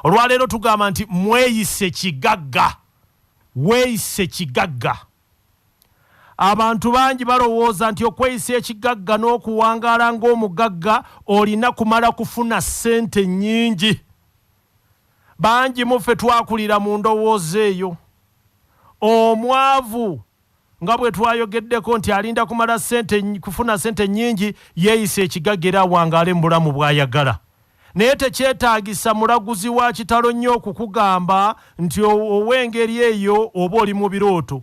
olwaleero tugamba nti mweyise kigagga weeyise kigagga abantu bangi balowooza nti okweyisa ekigagga n'okuwangaala ng'omugagga olina kumala kufuna ssente nnyingi bangi muffe twakulira mu ndowooza eyo omwavu nga bwe twayogeddeko nti alinda kumala sente kufuna sente nnyingi yeeyisa ekigagga era awangaale mu bulamu bw'ayagala naye tekyetaagisa mulaguzi wa kitalo nnyo okukugamba nti ow'engeri eyo oba oli mu birooto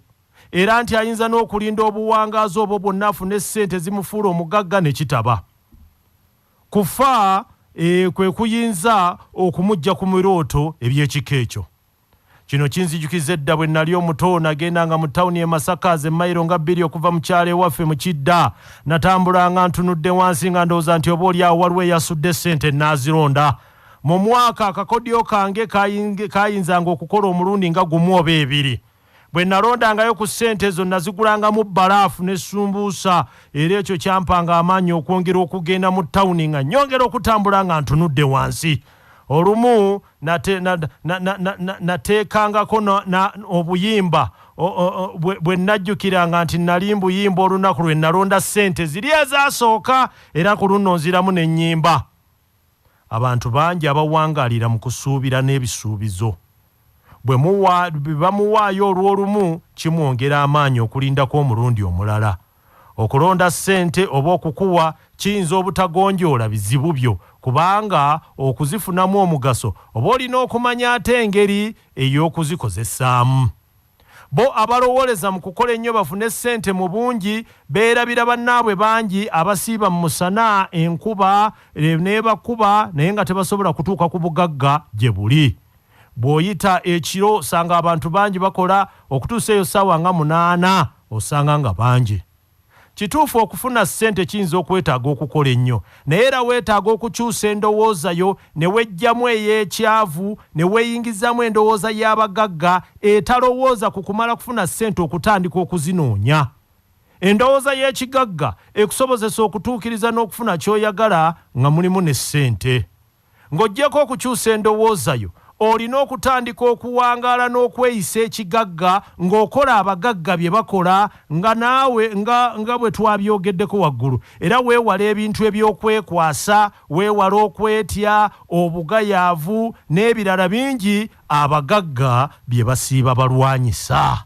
era nti ayinza n'okulinda obuwangaazi obwo bwonna afune ssente zimufuula omugagga ne kitaba kufa e, kwe kuyinza okumujja ku mirooto eby'ekika ekyo Kino kinzijukizza edda bwe nnali omuto nagendanga mu tawuni e Masaka ze mayiro nga bbiri okuva mu kyalo ewaffe mu Kidda. Natambulanga ntunudde wansi nga ndowooza nti oba oli awo waliwo eyasudde ssente nnaazironda. Mu mwaka akakodyo kange kaayinzanga okukola omulundi nga gumu oba ebiri. Bwe nalondangayo ku ssente ezo nazigulangamu bbalaafu ne sumbuusa era ekyo kyampanga amaanyi okwongera okugenda mu tawuni nga nnyongera okutambula nga ntunudde wansi. Olumu nateekangako obuyimba bwe nnajjukiranga nti nnali mbuyimba olunaku lwe nnalonda ssente ziri ezaasooka era ku lunno nziramu ne nnyimba abantu bangi abawangaalira mu kusuubira n'ebisuubizo bwe bamuwaayo olw'olumu kimwongera amaanyi okulindako omulundi omulala Okulonda ssente oba okukuwa kiyinza obutagonjoola bizibu byo kubanga okuzifunamu omugaso oba olina okumanya ate engeri ey'okuzikozesaamu. Bo abalowooleza mu kukola ennyo bafune ssente mu bungi beerabira bannaabwe bangi abasiiba mu musana enkuba n'ebakuba naye nga tebasobola kutuuka ku bugagga gye buli. Bw'oyita ekiro osanga abantu bangi bakola okutuusa eyo ssaawa nga munaana osanga nga bangi. Kituufu okufuna ssente kiyinza okwetaaga okukola ennyo naye era weetaaga okukyusa endowooza yo ne weggyamu ey'ekyavu ne weeyingizaamu endowooza y'abagagga etalowooza ku kumala kufuna ssente okutandika okuzinoonya. Endowooza y'ekigagga ekusobozesa okutuukiriza n'okufuna ky'oyagala nga mulimu ne ssente. Ng'oggyeko okukyusa endowooza yo, olina okutandika okuwangaala n'okweyisa ekigagga ng'okola abagagga bye bakola nga naawe nga nga bwe twabyogeddeko waggulu era weewale ebintu eby'okwekwasa, weewale okwetya, obugayaavu n'ebirala bingi abagagga bye basiiba balwanyisa.